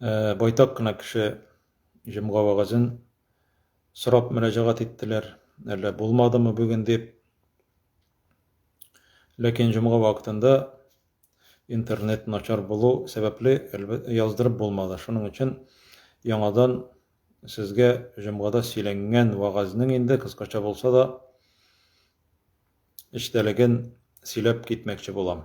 Э, байтак кына кеше җомга вәгазен сорап мөрәҗәгать иттеләр. Әллә булмадымы бүген дип. Ләкин җомга вакытында интернет начар булу сәбәпле яздырып булмады. Шуның өчен яңадан сезгә җомгада сөйләнгән вәгазнең инде кыскача булса да эчтәлеген сөйләп китмәкче булам.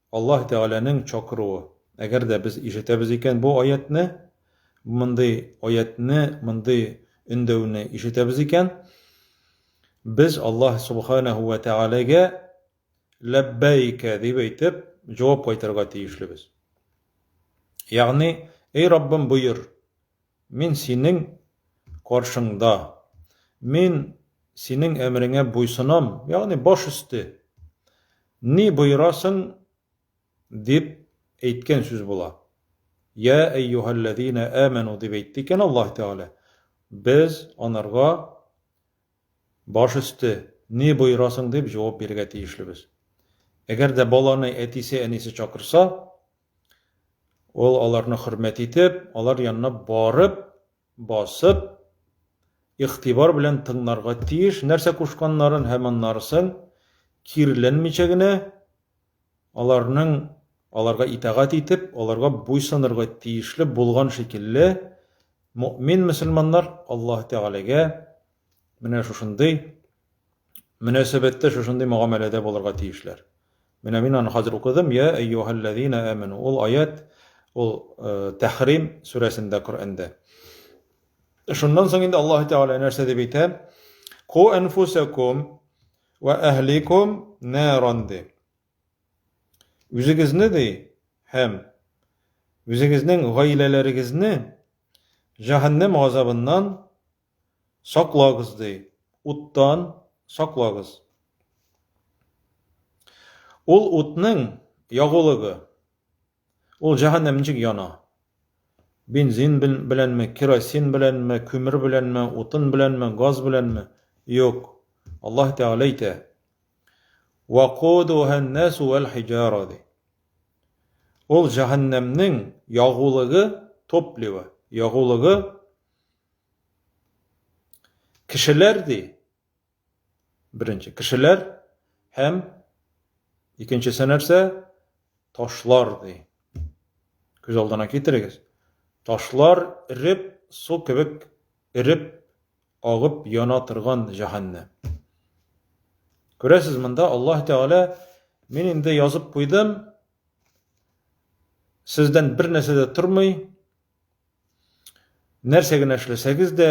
Аллаһ Тәгаләнең чакыруы. Әгәр дә без ишетәбез икән бу аятьне, мондый аятьне, мондый өндәүне ишетәбез икән, без Аллаһ Субханаһу вә Тәгаләгә ләббәйкә дип әйтеп, җавап кайтарырга тиешлебез. Ягъни, Эй Раббым, боер! Мин синең каршыңда. Мин синең әмереңә буйсынам, ягъни баш өсте. Ни боерасың, дип әйткән сүз була. Йә әйюһәлләзинә әмәну дип әйтте икән Аллаһ Тәгалә. Без анарга Баш өсте, ни боерасың дип җавап бирергә тиешлебез. Әгәр дә баланы әтисе-әнисе чакырса, ул аларны хөрмәт итеп, алар янына барып, басып, игътибар белән тыңларга тиеш, нәрсә кушканнарын һәм аннарысын кирленмичә генә аларның аларга итагать итеп, аларга буйсынырга тиешле булган шикелле, мөэмин мөселманнар Аллаһ Тәгаләгә менә шушындый мөнәсәбәттә, шушындый мөгамәләдә булырга тиешләр. Менә мин аны хәзер укыдым, я әйюһәлләзина әмәну. Ул аят, ул э, Тәхрим сүрәсендә Коръәндә. Шуннан соң инде Аллаһ Тәгалә нәрсә дип әйтә? Ку анфусакум Вә әһликум наран ди. Үзегезне ди һәм үзегезнең гаиләләрегезне җәһәннәм газабыннан саклагыз ди, уттан саклагыз. Ул утның ягулыгы Ул җәһәннәм ничек яна? Бензин беләнме, керосин беләнме, күмер беләнме, утын беләнме, газ беләнме? Юк. Аллаһ Тәгалә әйтә. Вакудуһан насу вал хиҗара ди. Ул җәһәннәмнең ягулыгы топливо, ягулыгы кешеләр ди. Беренче кешеләр һәм икенчесе нәрсә? Ташлар ди. Күз алдына китерегез. Ташлар эреп, су кебек эреп, агып яна торган җәһәннәм. Күрәсез, монда Аллаһ Тәгалә мин инде язып куйдым, сездән бер нәрсә дә тормый, нәрсә генә эшләсәгез дә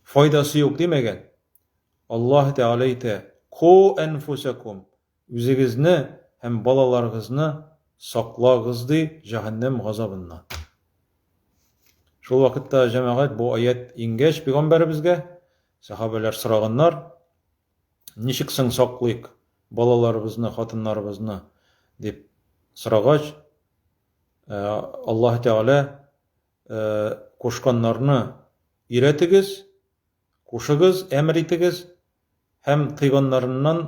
Файдасы юк димәгән. Аллаһ Тәгалә әйтә, Ку әнфүсәкум, үзегезне һәм балаларыгызны саклагыз, ди, җәһәннәм газабыннан. Шул вакытта, җәмәгать, бу аять иңгәч пигамбәребезгә, сәхабәләр сораганнар, Ничек соң саклыйк балаларыбызны, хатыннарыбызны? дип сорагач, Аллаһ Тәгалә кушканнарны өйрәтегез, кушыгыз, әмер итегез, һәм тыйганнарыннан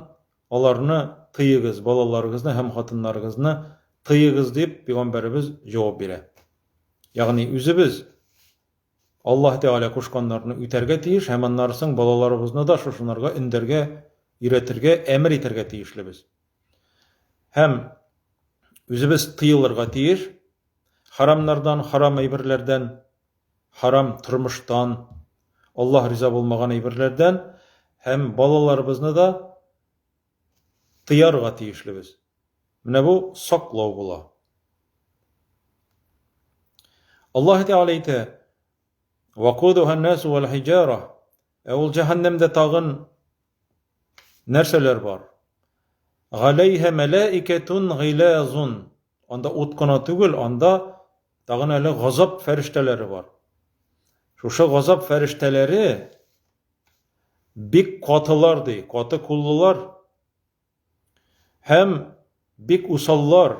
аларны тыегыз, балаларыгызны һәм хатыннарыгызны тыегыз, дип пәйгамбәребез җавап бирә. Ягъни үзебез Аллаһ Тәгалә кушканнарны үтәргә тиеш һәм аннары соң балаларыбызны да шушынарга өндәргә, өйрәтергә, әмер итәргә тиешлебез. Һәм үзебез тыелырга тиеш. Харамнардан, харам әйберләрдән, харам тормыштан, Аллаһ риза булмаган әйберләрдән һәм балаларыбызны да тыярга тиешлебез. Менә бу саклау була. Аллаһ Тәгалә әйтә: "Вакудуһан-насу вал-хиҗара" Ә ул җәһәннәмдә тагын Нәрсәләр бар? Галәйһә мәләикәтун гыйләзун. Анда ут кына түгел, анда тагын әле газап фәрештәләре бар. Шушы газап фәрештәләре бик катылар ди, каты куллылар һәм бик усаллар,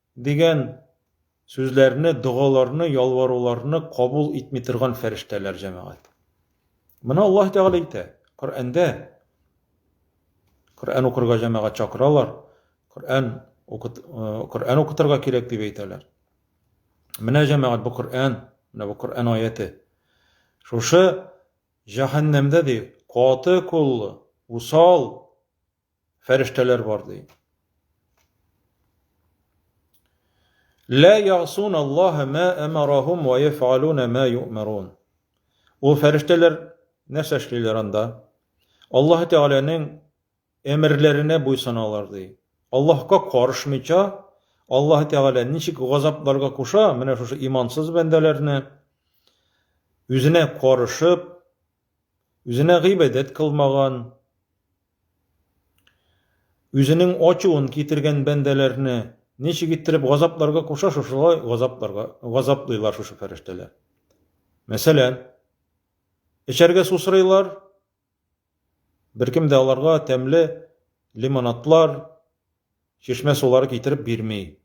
Дигән сүзләрне, догаларны, ялваруларны кабул итми торган фәрештәләр, җәмәгать. Моны Аллаһ Тәгалә әйтә, Коръәндә. Коръән укырга җәмәгать чакыралар, Коръән укыт, Коръән укытырга кирәк дип әйтәләр. Менә җәмәгать бу Коръән, менә бу Коръән аяте. Шушы җәһәннәмдә ди, каты куллы, усал Фәрештәләр бар, ди. Лә ясун Аллаһа ма амарахум ва яфалуна ма юмарун. Ул фәрештәләр нәрсә эшлиләр анда? Аллаһ Тәгаләнең әмерләренә буйсыналар, ди. Аллаһка карышмыйча, Аллаһ Тәгалә ничек газапларга куша, менә шушы имансыз бәндәләрне үзенә карышып, Үзенә гыйбадәт кылмаган, үзенең ачуын китергән бәндәләрне ничек иттереп газапларга куша, шушылай газапларга газаплыйлар шушы фәрештәләр. Мәсәлән, эчәргә су сорыйлар, беркем дә аларга тәмле лимонадлар, Чишмә сулары китереп бирми.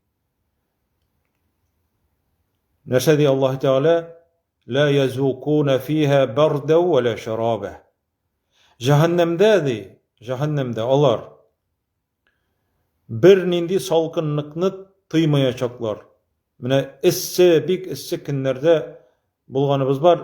Нәрсә ди Аллаһ Тәгалә? Ла язукуна фиһа барда ва ла шараба. Җәһәннәмдә ди, җәһәннәмдә алар бер нинди салкынлыкны тыймаячаклар. Менә эссе, бик эссе көннәрдә булганыбыз бар.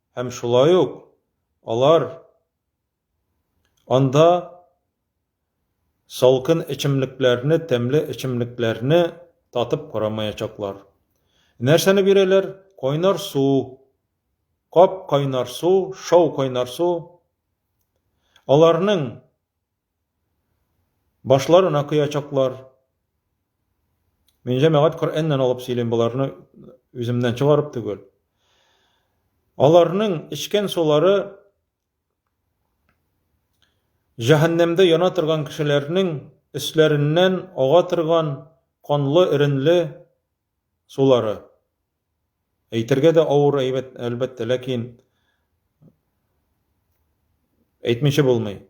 Һәм шулай ук алар анда салкын эчемлекләрне, тәмле эчемлекләрне татып карамаячаклар. Нәрсәне бирәләр? Кайнар су, кап кайнар су, шау кайнар су. Аларның Башларына коячаклар. Мин җәмәгать Коръәннән алып сөйлим, боларны үземнән чыгарып түгел. Аларның эчкән сулары җәһәннәмдә яна торган кешеләрнең өсләреннән ага торган канлы, эренле сулары. Әйтергә дә авыр, әлбәттә, ләкин әйтмичә булмый.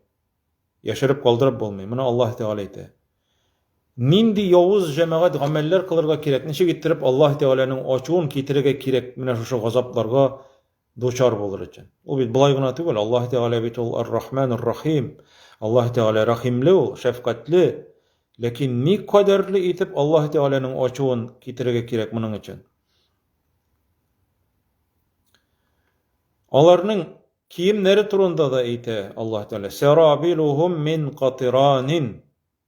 Яшереп калдырып булмый. Моны Аллаһ Тәгалә әйтә. Нинди явыз җәмәгать гамәлләр кылырга кирәк? Ничек иттереп Аллаһ Тәгаләнең ачуын китерергә кирәк менә шушы газапларга дучар булыр өчен. Ул бит болай гына түгел, Аллаһ Тәгалә бит ул Ар-Рахман Ар-Рахим. Аллаһ Тәгалә рәхимле ул, шәфкатьле. Ләкин ни кадәрле итеп Аллаһ Тәгаләнең ачуын китерергә кирәк моның өчен? Аларның киемнәре турында да әйтә Аллаһ Тәгалә. Сәрабилухум мин катиранин.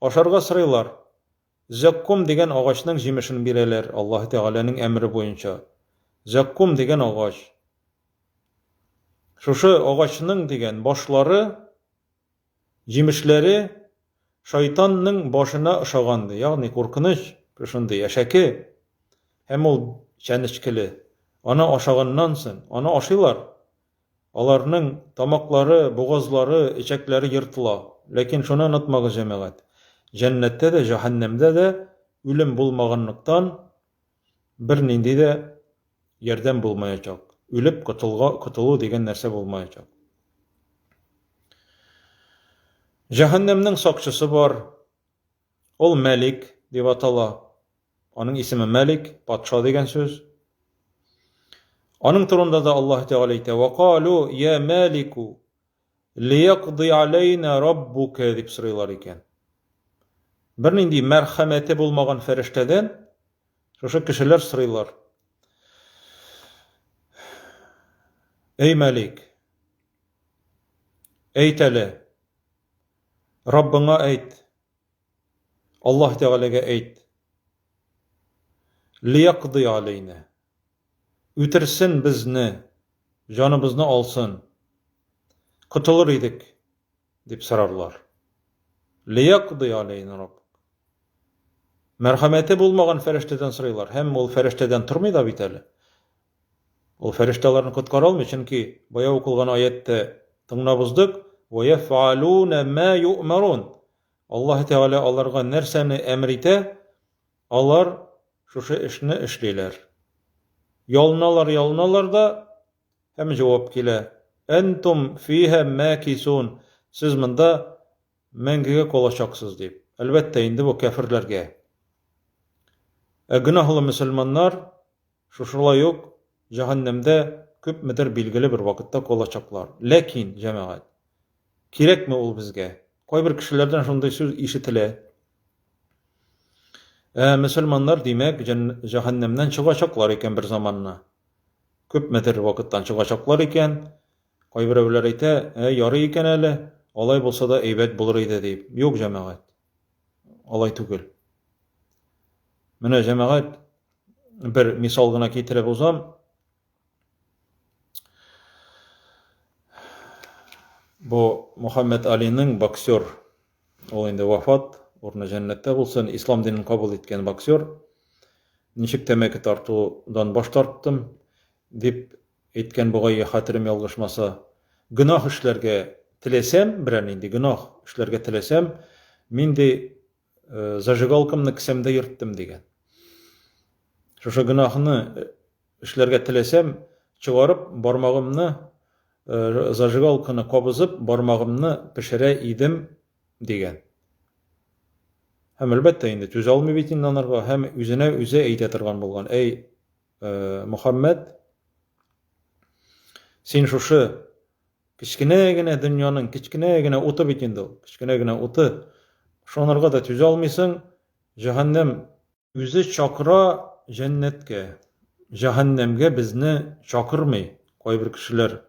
Ашарга сорыйлар. Зәккум дигән агачның җимешен бирәләр, Аллаһы Тәгаләнең әмере буенча. Зәккум дигән агач. Шушы агачның, дигән, башлары, җимешләре шайтанның башына ошаган, ди. Ягъни, куркыныч, шушындый, әшәке. Һәм ул чәнечкеле. Аны ашаганнан соң, аны ашыйлар. Аларның тамаклары, бугазлары, эчәкләре ертыла. Ләкин шуны онытмагыз, җәмәгать, җәннәттә дә, җәһәннәмдә дә үлем булмаганлыктан, бернинди дә ярдәм булмаячак, үлеп котылу дигән нәрсә булмаячак. Җәһәннәмнең сакчысы бар, ул Мәлик дип атала. Аның исеме Мәлик, патша дигән сүз. Аның турында да Аллаһ Тәгалә әйтә: "Ва калу я Мәлику лиякди алейна раббука" дип сорыйлар икән. Бернинди мәрхәмәте булмаган фәрештәдән шушы кешеләр сорыйлар. Әй Мәлик, әйт әле, Раббыңа әйт, Аллаһ Тәгаләгә әйт, Лиякъди галәйнә, үтерсен безне, җаныбызны алсын, котылыр идек, дип сорарлар. Лиякъди галәйнә Раббук. Мәрхәмәте булмаган фәрештәдән сорыйлар, һәм ул фәрештәдән тормый да бит әле. Ул фәрештә аларны коткара алмый, чөнки бая укылган аятьтә тыңлап уздык, «Вәяфәалуна мә юъмарун». Аллаһы Тәгалә аларга нәрсәне әмер итә, алар шушы эшне эшлиләр. Ялыналар, ялыналар да, һәм җавап килә, Әнтум фиһә мәкисун, сез монда мәңгегә калачаксыз, дип. Әлбәттә, инде бу кәферләргә. Ә гөнаһлы мөселманнар Шушылай ук җәһәннәмдә күпмедер билгеле бер вакытта калачаклар. Ләкин, җәмәгать, кирәкме ул безгә? Кайбер кешеләрдән шундый сүз ишетелә, Ә мөселманнар, димәк, җәһәннәмнән чыгачаклар икән бер заманны. Күпмедер вакыттан чыгачаклар икән. Кайберәүләр әйтә, Ә, ярый икән әле, алай булса да әйбәт булыр иде, дип. Юк, җәмәгать. алай түгел. Менә җәмәгать бер мисал гына китереп узам. Бу Мухаммед Алинең боксер, ул инде вафат, урыны җәннәттә булсын, ислам динен кабул иткән боксер. Ничек тәмәке тартудан баш тарттым, дип Әйткән бугае, хәтерем ялгышмаса, Гөнаһ эшләргә теләсәм, берәр нинди гөнаһ эшләргә теләсәм, мин, ди, зажигалкамны кесәмдә йөрттем, дигән. Шушы гөнаһны эшләргә теләсәм, чыгарып, бармагымны, зажигалканы кабызып, бармагымны пешерә идем, дигән. Һәм, әлбәттә, инде түзә алмый бит инде анарга, һәм үзенә үзе әйтә торган булган, Әй, э, Мөхәммәд, син шушы кечкенә генә дөньяның кечкенә генә уты бит инде ул, кечкенә генә уты. Шонырга да түзә алмыйсың, җәһәннәм үзе чакыра җәннәткә. Җәһәннәмгә безне чакырмый кайбер кешеләр.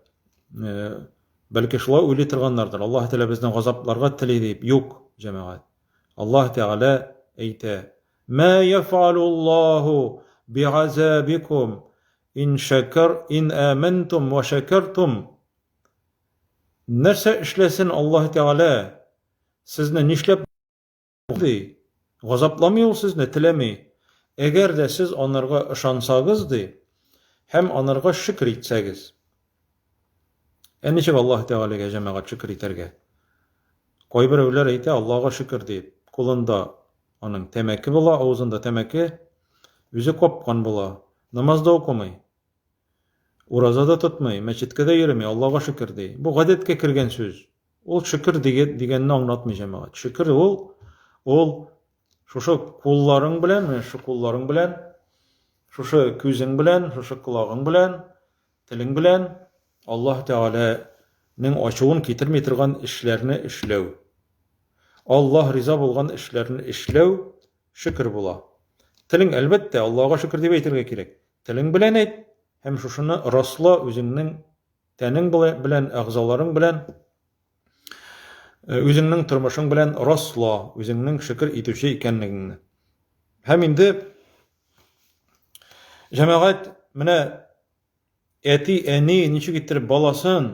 Э, бәлки шулай уйлый торганнардыр. Аллаһ Тәгалә безне газапларга тели дип, юк, җәмәгать. Аллаһ Тәгалә әйтә, Мә яфәалуллаһу бигазәбикум ин шәкәр ин әмәнтум вә шәкәртум? Нәрсә эшләсен Аллаһы Тәгалә сезне нишләп ди? Газапламый ул сезне, теләми. Әгәр дә сез анырга ышансагыз ди, һәм анырга шөкер итсәгез. Ә ничек Аллаһы Тәгаләгә җәмәгать шөкер итәргә? Кайберәүләр әйтә, Аллага шөкер дип, кулында Аның тәмәке була, авызында тәмәке, үзе капкан була. Намаз да укымый. Ураза да тотмый, мәчеткә дә йөрми, Аллага шөкер ди. Бу гадәткә кергән сүз. Ул шөкер дигәнне аңлатмый җәмәгать. Шөкер ул ул шушы кулларың белән, менә шушы кулларың белән, шушы күзең белән, шушы колагың белән, Телең белән Аллаһ Тәгалә нең ачуын китерми торган эшләрне эшләү. Аллаһ риза булган эшләрне эшләү шөкер була. Телең, әлбәттә, Аллага шөкер дип әйтергә кирәк. Телең белән әйт һәм шушыны расла үзеңнең тәнең белән, әгъзаларың белән, э, үзеңнең тормышың белән расла үзеңнең шөкер итүче икәнлегеңне. Һәм инде Җәмәгать менә әти, әни ничек иттереп баласын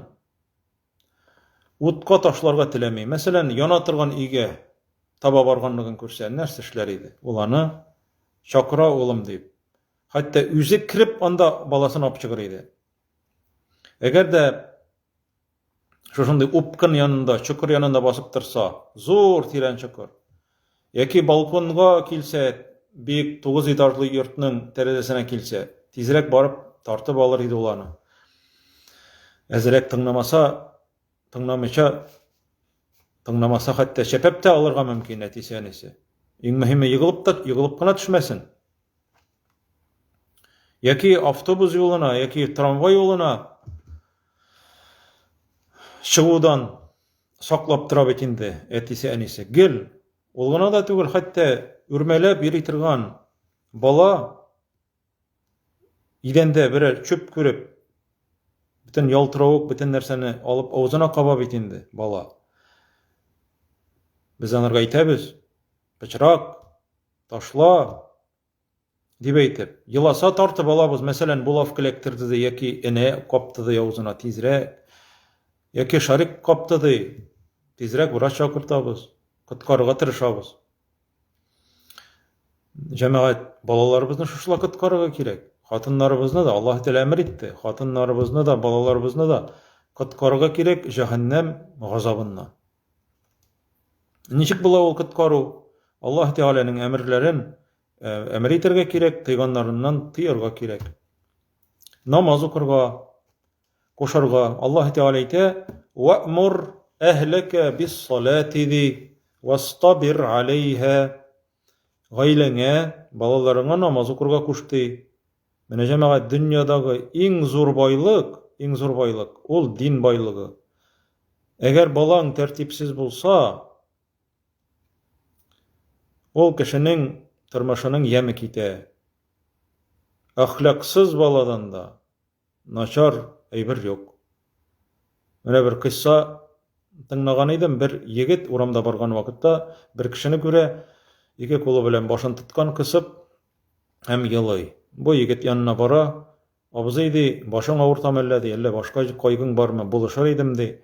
утка ташларга теләми. Мәсәлән, яна торган өйгә таба барганлыгын күрсә, нәрсә эшләр иде? Ул аны чакыра улым дип. Хәтта үзе кирип анда баласын алып чыгыр иде. Әгәр дә Шушындый упкын янында, чокыр янында басып торса, зур тирән чокыр. Яки балконга килсә, бик тугыз этажлы йортның тәрәзәсенә килсә, тизрәк барып тартып алыр иде ул аны. Әзрәк тыңламаса, тыңламыйча, тыңламаса хәтта чәпәп тә алырга мөмкин әтисе-әнисе. Иң мөһиме, егылып та, егылып кына төшмәсен. яки автобус юлына, яки трамвай юлына чыгудан саклап тора бит инде әтисе әнисе. Гел ул гына да түгел, хәтта үрмәләп йөри торган бала идәндә берәр чүп күреп, бөтен ялтыравык, бөтен нәрсәне алып авызына каба бит инде бала. Без анарга әйтәбез, пычрак, ташла, Дип әйтеп, еласа тартып алабыз, мәсәлән, булавка эләктерде ди, яки энә капты ди авызына, тизрәк. Яки шарик капты ди, тизрәк врач чакыртабыз, коткарырга тырышабыз. Җәмәгать, балаларыбызны шушылай коткарырга кирәк. Хатыннарыбызны да, Аллаһ Тәгалә әмер итте, хатыннарыбызны да, балаларыбызны да коткарырга кирәк җәһәннәм газабыннан. Ничек була ул коткару? Аллаһ Тәгаләнең әмерләрен әмер итәргә кирәк, тыйганнарыннан тыярга кирәк. Намаз укырга, кушарга. Аллаһ Тәгалә әйтә: "Ваъмур әһләкә бис-салати ди, вастабир алейһа". Гаиләңә, балаларыңа намаз укырга куш ди. Менә җәмәгать дөньядагы иң зур байлык, иң зур байлык, ул дин байлыгы. Әгәр балаң тәртипсез булса, ул кешенең тормышының яме китә. Әхлаксыз баладан да начар әйбер юк. Менә бер кыйсса тыңлаган идем, бер егет урамда барган вакытта бер кешене күрә, ике кулы белән башын тоткан кысып, һәм елый. Бу егет янына бара, Абзый, ди, башың авырта мәллә, ди, әллә башка кайгың бармы, булышыр идем, ди.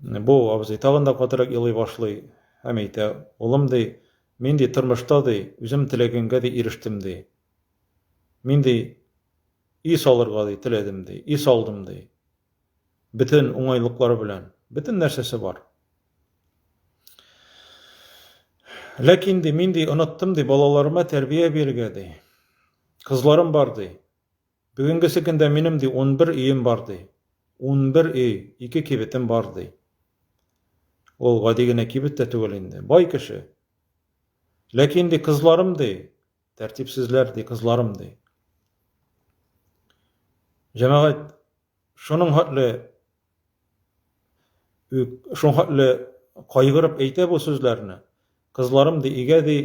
Бу абзый тагын да катырак елый башлый һәм әйтә, улым, ди, мин, ди, тормышта, ди, үзем теләгәнгә, ди, ирештем, ди. Мин, ди, өй салырга, ди, теләдем, ди, өй салдым, ди. Бөтен уңайлыклары белән, бөтен нәрсәсе бар. Ләкин ди, мин ди, оныттым ди, балаларыма тәрбия бирергә ди. Кызларым бар ди. Бүгенгесе көндә минем ди 11 өем бар ди. 11 өй, ике кибетем бар ди. Ул гади генә кибет тә түгел инде, бай кеше. Ләкин ди, кызларым ди, Тәртипсезләр, ди, кызларым, ди. Җәмәгать, шуның хәтле шуның хәтле кайгырып әйтә бу сүзләрне. Кызларым, ди, игә, ди,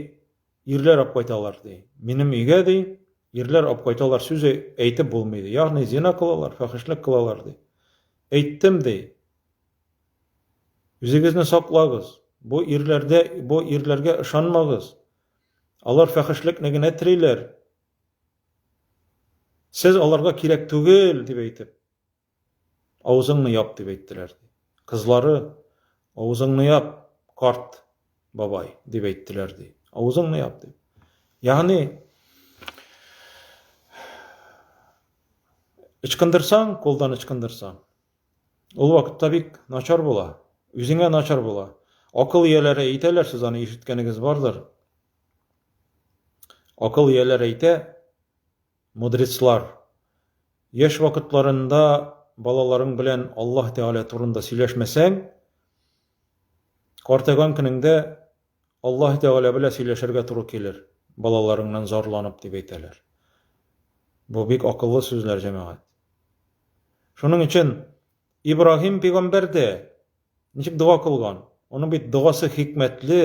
ирләр алып кайталар, ди. Минем игә, ди, ирләр алып кайталар, сүзе әйтеп булмый, ди. Ягъни зина кылалар, фәхишлек кылалар, ди. Әйттем, ди. Үзегезне саклагыз. Бу ирләрдә, бу ирләргә ышанмагыз. Алар фәхешлекне генә телиләр. Сез аларга кирәк түгел, дип әйтеп, авызыңны яп, дип әйттеләр. Кызлары, авызыңны яп, карт бабай, дип әйттеләр, ди. Авызыңны яп, дип. Ягъни, ычкындырсаң, кулдан ычкындырсаң, Ул вакытта бик начар була. Үзеңә начар була. Акыл ияләре әйтәләр, сез аны ишеткәнегез бардыр. Акыл ияләре әйтә, мудреслар, яшь вакытларында балаларың белән Аллаһ Тәгалә турында сөйләшмәсәң, картайган көнеңдә Аллаһ Тәгалә белән сөйләшергә туры килер, балаларыңнан зарланып, дип әйтәләр. Бу бик акыллы сүзләр, җәмәгать. Шуның өчен Ибраһим пигамбәр дә ничек дога кылган? Оның бит догасы хикмәтле.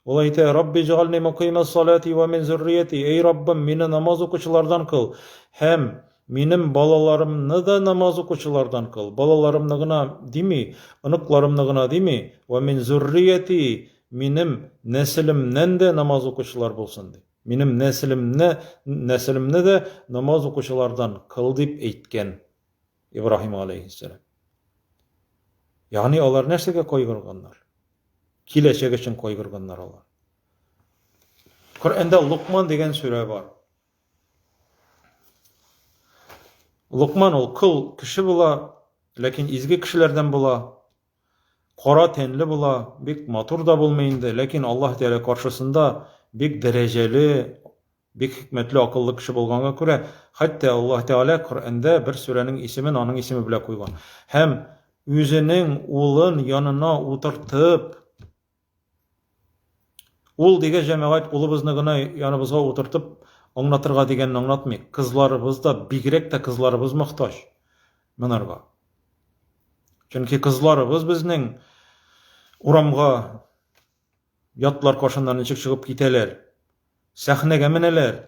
Ул әйтә: "Рабби җгални мукимас салати ва мин зуррияти", Эй Раббым, мине намаз укучылардан кыл һәм Минем балаларымны да намаз укучылардан кыл, балаларымны гына дими, оныкларымны гына дими, вә мин зуррияти, минем нәселемнән дә намаз укучылар булсын, ди. Минем нәселемне, нәселемне дә намаз укучылардан кыл, дип әйткән Ибраһим галәйһиссәлам. Ягъни алар нәрсәгә кайгырганнар? Киләчәк өчен кайгырганнар алар. Коръәндә Лукман дигән сүрә бар. Лукман ул кол кеше була, ләкин изге кешеләрдән була. Кара тәнле була, бик матур да булмый инде, ләкин Аллаһ Тәгалә каршысында бик дәрәҗәле, бик хикмәтле, акыллы кеше булганга күрә, хәтта Аллаһ Тәгалә Коръәндә бер сүрәнең исемен аның исеме белән куйган. Һәм үзенең улын янына утыртып, Ул диге җәмәгать улыбызны гына яныбызга утыртып аңлатырга дигәнне аңлатмый. Кызларыбыз да, бигрәк тә кызларыбыз мохтаҗ монарга. Чөнки кызларыбыз безнең урамга ятлар кашыннан ничек чыгып китәләр, сәхнәгә менәләр,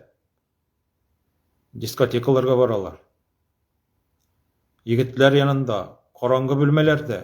дискотекаларга баралар. Егетләр янында, караңгы бүлмәләрдә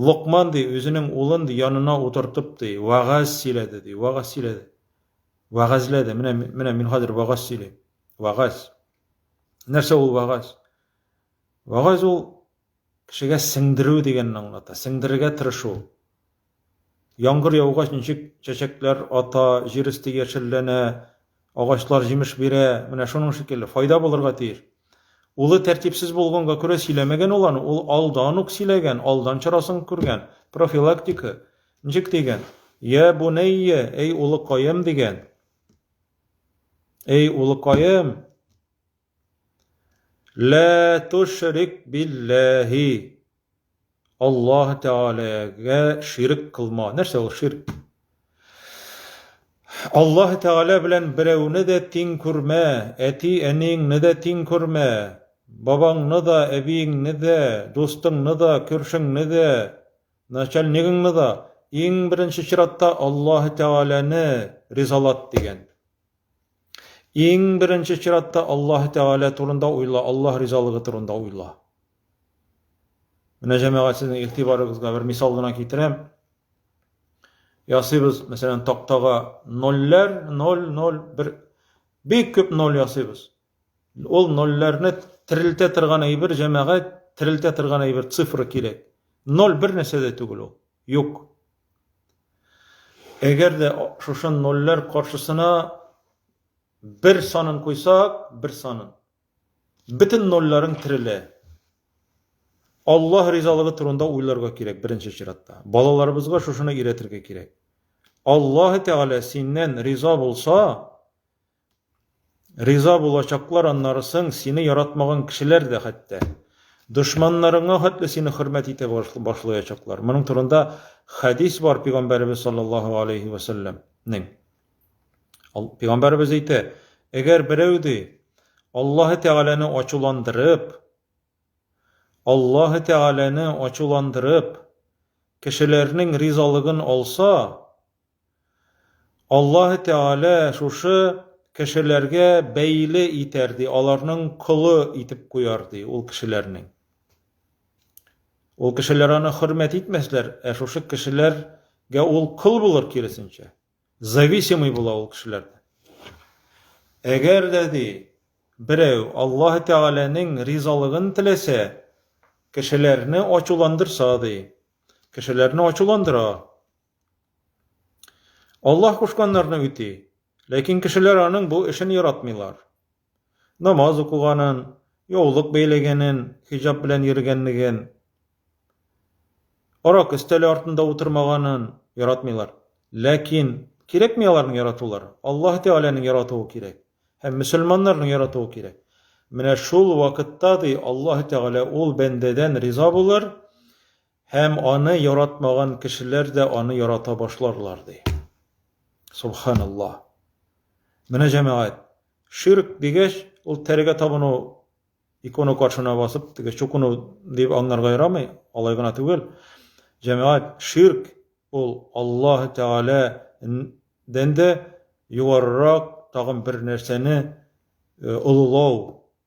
Локман, ди, үзенең улын, ди, янына утыртып, ди, вәгазь сөйләде, ди, вәгазь сөйләде. Вәгазьләде. Менә, менә мин хәзер вәгазь сөйлим. Вәгазь. Нәрсә ул вәгазь? Вәгазь ул кешегә сеңдерү дигәнне аңлата, сеңдерергә тырышу. Яңгыр яугач, ничек чәчәкләр ата, җир өсте яшелләнә, агачлар җимеш бирә, менә шуның шикелле, файда булырга тиеш. Улы тәртипсез булганга күрә сөйләмәгән ул аны, ул алдан ук сөйләгән, алдан чарасын күргән, профилактика. Ничек дигән? Я бунәйя, әй улыкаем дигән. Әй улыкаем! Лә тошрик билләһи. Аллаһ Тәгаләгә ширк кылма. Нәрсә ул ширк? Аллаһ Тәгалә белән берәүне дә тиң күрмә, әти-әниеңне дә тиң күрмә, бабаңны да, әбиеңне дә, дустыңны да, күршеңне дә, начальнигыңны да, иң беренче чиратта Аллаһ Тәгаләне ризалат дигән. Иң беренче чиратта Аллаһ Тәгалә турында уйла, Аллаһ ризалыгы турында уйла. Менә җәмәгать сезнең игътибарыгызга бер мисал гына китерәм. Ясыйбыз, мәсәлән, тактага нольләр, ноль, ноль, бер бик күп ноль ясыйбыз. Ул нольләрне терелтә торган әйбер, җәмәгать, терелтә торган әйбер, цифра кирәк. Ноль бер нәрсә дә түгел ул. Юк. Әгәр дә шушы нольләр каршысына бер санын куйсак, бер санын, бөтен нольләрен терелә. Аллаһ ризалыгы турында уйларга кирәк беренче чиратта. Балаларыбызга шушыны өйрәтергә кирәк. Аллаһ Тәгалә синнән риза булса, Риза булачаклар аннары соң сине яратмаган кешеләр дә хәтта. Дошманнарыңа хәтле сине хөрмәт итә башлаячаклар. Моның турында хәдис бар пигамбәребез саллаллаһу алейһи вә сәлләмнең. Пигамбәребез әйтә, әгәр берәү ди, Аллаһы Тәгаләне ачуландырып, Аллаһы Тәгаләне ачуландырып, кешеләрнең ризалыгын алса, Аллаһы Тәгалә шушы кешеләргә бәйле итәр, ди, аларның колы итеп куяр, ди, ул кешеләрнең. Ул кешеләр аны хөрмәт итмәсләр, ә шушы кешеләргә ул кол булыр киресенчә. Зависимый була ул кешеләрдән. Әгәр дә, ди, берәү Аллаһы Тәгаләнең ризалыгын теләсә, кешеләрне ачуландырса, ди, кешеләрне ачуландыра, Аллаһ кушканнарны үти, ләкин кешеләр аның бу эшен яратмыйлар. Намаз укыганын, яулык бәйләгәнен, хиҗаб белән йөргәнлеген, арак өстәле артында утырмаганын яратмыйлар. Ләкин кирәкми аларның яратулары. Аллаһ Тәгаләнең яратуы кирәк һәм мөселманнарның яратуы кирәк. Менә шул вакытта, ди, Аллаһ Тәгалә ул бәндәдән риза булыр, Һәм аны яратмаган кешеләр дә аны ярата башларлар, ди. Субханаллаһ. Менә җәмәгать, ширк дигәч, ул тәрегә табыну, икона каршына басып, теге чукыну дип аңларга ярамый, алай гына түгел. Җәмәгать, ширк ул Аллаһ Тәгалә дән дә югарырак тагын бер нәрсәне олылау,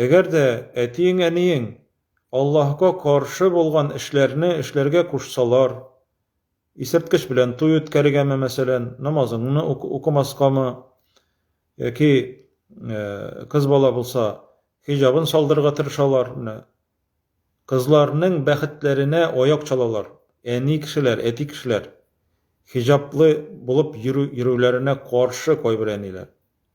Әгәр дә әтиең-әниең Аллаһка каршы булган эшләрне эшләргә кушсалар, исерткеч белән туй үткәрергәме, мәсәлән, намазыңны укымаскамы, яки кыз бала булса, хиҗабын салдырырга тырышалар, менә кызларның бәхетләренә аяк чалалар, әни кешеләр, әти кешеләр хиҗаплы булып йөрүләренә каршы кайбер әниләр.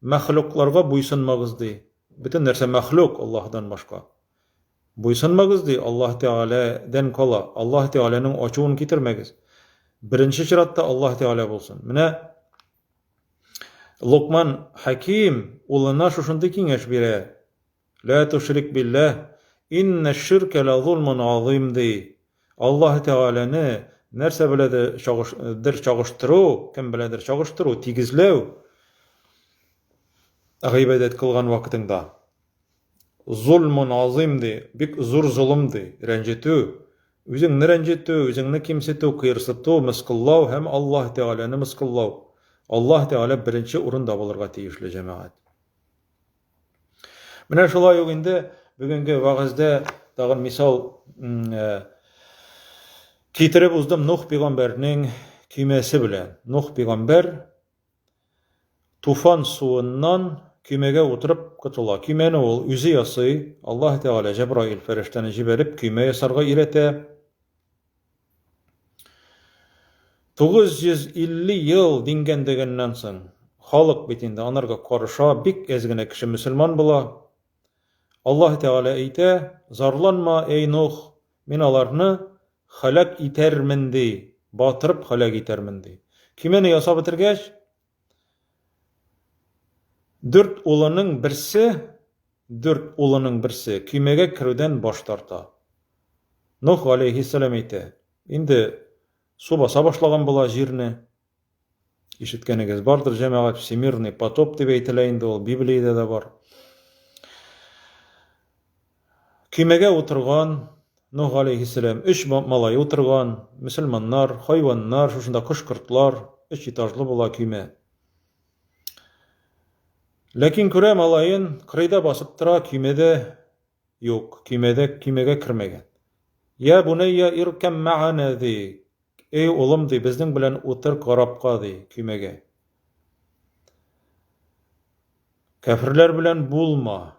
Мәхлукларга буйсынмагыз, ди. Бөтен нәрсә мәхлук, Аллаһыдан башка. Буйсынмагыз, ди, Аллаһ Тәгалә дән кала, Аллаһ Тәгаләнең ачуын китермәгез. Беренче чиратта Аллаһ Тәгалә булсын. Менә Локман хәким улына шушындый киңәш бирә. Лә тушрик биллә, иннә ширкә лә зулмун газыйм, ди. Аллаһы Тәгаләне нәрсә белә дә чагыш дер чагыштыру, кем беләдер чагыштыру, тигезләү, гыйбадәт кылган вакытыңда, зулмун газыйм, ди, бик зур золым, ди, рәнҗетү, үзеңне рәнҗетү, үзеңне кимсетү, кыерсыту, мыскыллау һәм Аллаһы Тәгаләне мыскыллау. Аллаһы Тәгалә беренче урында булырга тиешле, җәмәгать. Менә шулай ук инде бүгенге вагызда тагын мисал китереп уздым Нух пигамбәрнең көймәсе белән. Нух пигамбәр туфан суыннан көймәгә утырып котыла. Көймәне ул үзе ясый. Аллаһ Тәгалә Җәбраил фәрештәне җибәреп көймә ясарга өйрәтә. 950 ел дингән дигәннән соң, халык бит инде анарга карыша, бик әз генә кеше мөселман була. Аллаһ Тәгалә әйтә, зарланма, әй Нух, мин аларны халәк итәрмен ди, батырып халәк итәрмен ди. Көймәне ясап бетергәч, Дүрт улының берсе, дүрт улының берсе көймәгә керүдән баш тарта. Нух галәйһиссәлам әйтә, Инде су баса башлаган була җирне. Ишеткәнегез бардыр, җәмәгать, всемирный потоп дип әйтелә инде ул, Библиядә дә бар. Көймәгә утырган, Нух галәйһиссәлам, өч малае утырган, мөселманнар, хайваннар, шушында кош-кортлар, өч этажлы була көймә. Ләкин күрә малаен, кырыйда басып тора, көймәдә юк, көймәдә көймәгә кермәгән. Я бунәйя иркәм мәгана ди. Эй улым ди, безнең белән утыр корабка ди, көймәгә. Кәферләр белән булма.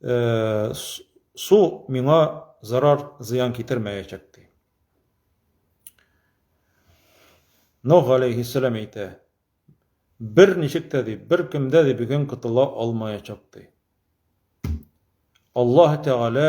Э, су миңа зарар зыян китермәячәк ди нух алейхиссалам әйтә бер ничек тә ди бер кемдә ди бүген котыла алмаячак ди аллаһ тәгалә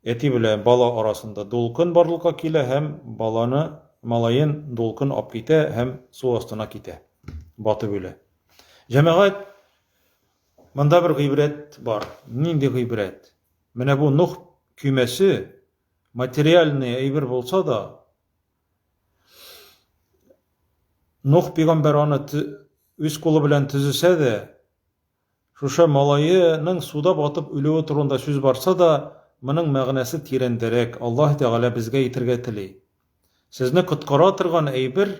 Әти белән бала арасында дулкын барлыкка килә һәм баланы, малаен дулкын ап китә һәм су астына китә, батып үлә. Җәмәгать, монда бер гыйбрәт бар. Нинди гыйбрәт? Менә бу Нух көймәсе материальный әйбер булса да, Нух пигамбәр аны үз кулы белән төзесә дә, Шушы малаеның суда батып үлүе турында сүз барса да, моның мәгънәсе тирәндәрәк, Аллаһ Тәгалә безгә әйтергә тели, Сезне коткара торган әйбер,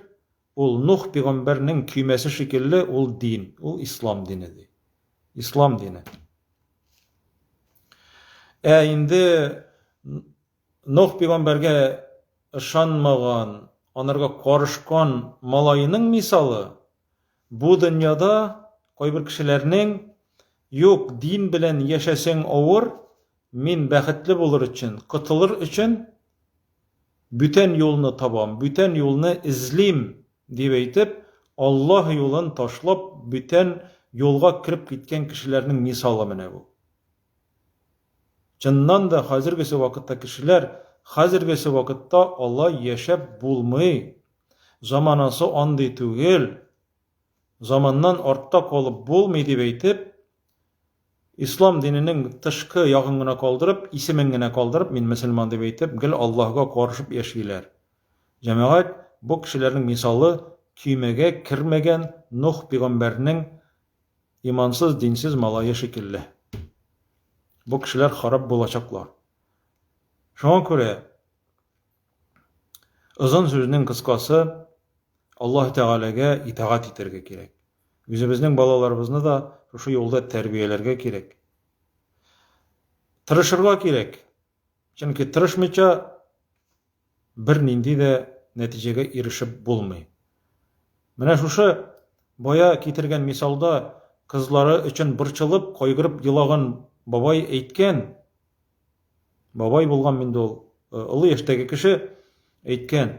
ул Нух пигамбәрнең көймәсе шикелле, ул дин, ул ислам дине, ди. Ислам дине. Ә инде Нух пигамбәргә ышанмаган, анарга карышкан малаеның мисалы, Бу дөньяда кайбер кешеләрнең, Юк, дин белән яшәсең авыр, мин бәхетле булыр өчен, котылыр өчен бүтән юлны табам, бүтән юлны эзлим, дип әйтеп, Аллаһ юлын ташлап, бүтән юлга кереп киткән кешеләрнең мисалы менә бу. Чыннан да, хәзергесе вакытта кешеләр, Хәзергесе вакытта алай яшәп булмый, заманасы андый түгел, заманнан артта калып булмый, дип әйтеп, ислам диненең тышкы ягын гына калдырып, исемен генә калдырып, мин мөселман дип әйтеп, гел Аллаһыга карышып яшиләр. Җәмәгать, бу кешеләрнең мисалы көймәгә кермәгән Нух пигамбәрнең Имансыз, динсез малае шикелле. Бу кешеләр харап булачаклар. Шуңа күрә озын сүзнең кыскасы Аллаһ Тәгаләгә итагать итәргә кирәк. Үзебезнең балаларыбызны да шушы юлда тәрбияләргә кирәк. Тырышырга кирәк. Чөнки тырышмыйча бернинди дә нәтиҗәгә ирешеп булмый. Менә шушы бая китергән мисалда кызлары өчен борчылып, кайгырып елаган бабай әйткән, бабай булган инде ул, э, олы яшьтәге кеше әйткән,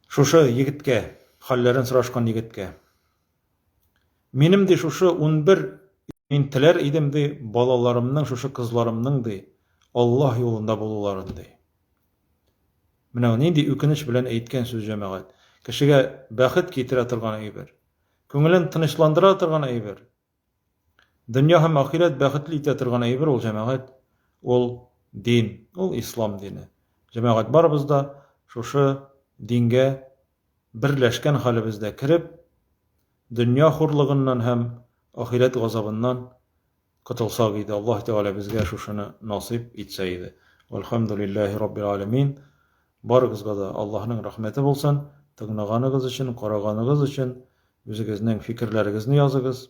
шушы егеткә, хәлләрен сорашкан егеткә. Минем ди шушы унбер мин теләр идем ди балаларымның шушы кызларымның ди Аллаһ юлында булуларын ди. Менә нинди үкенеч белән әйткән сүз җәмәгать. Кешегә бәхет китерә торган әйбер. Күңелен тынычландыра торган әйбер. Дөнья һәм ахирәт бәхетле итә торган әйбер ул җәмәгать. Ул дин, ул ислам дине. Җәмәгать барыбыз да шушы дингә берләшкән хәлебездә кереп, дөнья хурлыгыннан һәм ахирәт газабыннан котылсак иде. Аллаһ Тәгалә безгә шушыны насыйп итсә иде. Вәлхәмдүлилләһи раббил галәмин. Барыгызга да Аллаһның рәхмәте булсын. Тыңлаганыгыз өчен, караганыгыз өчен үзегезнең фикерләрегезне языгыз.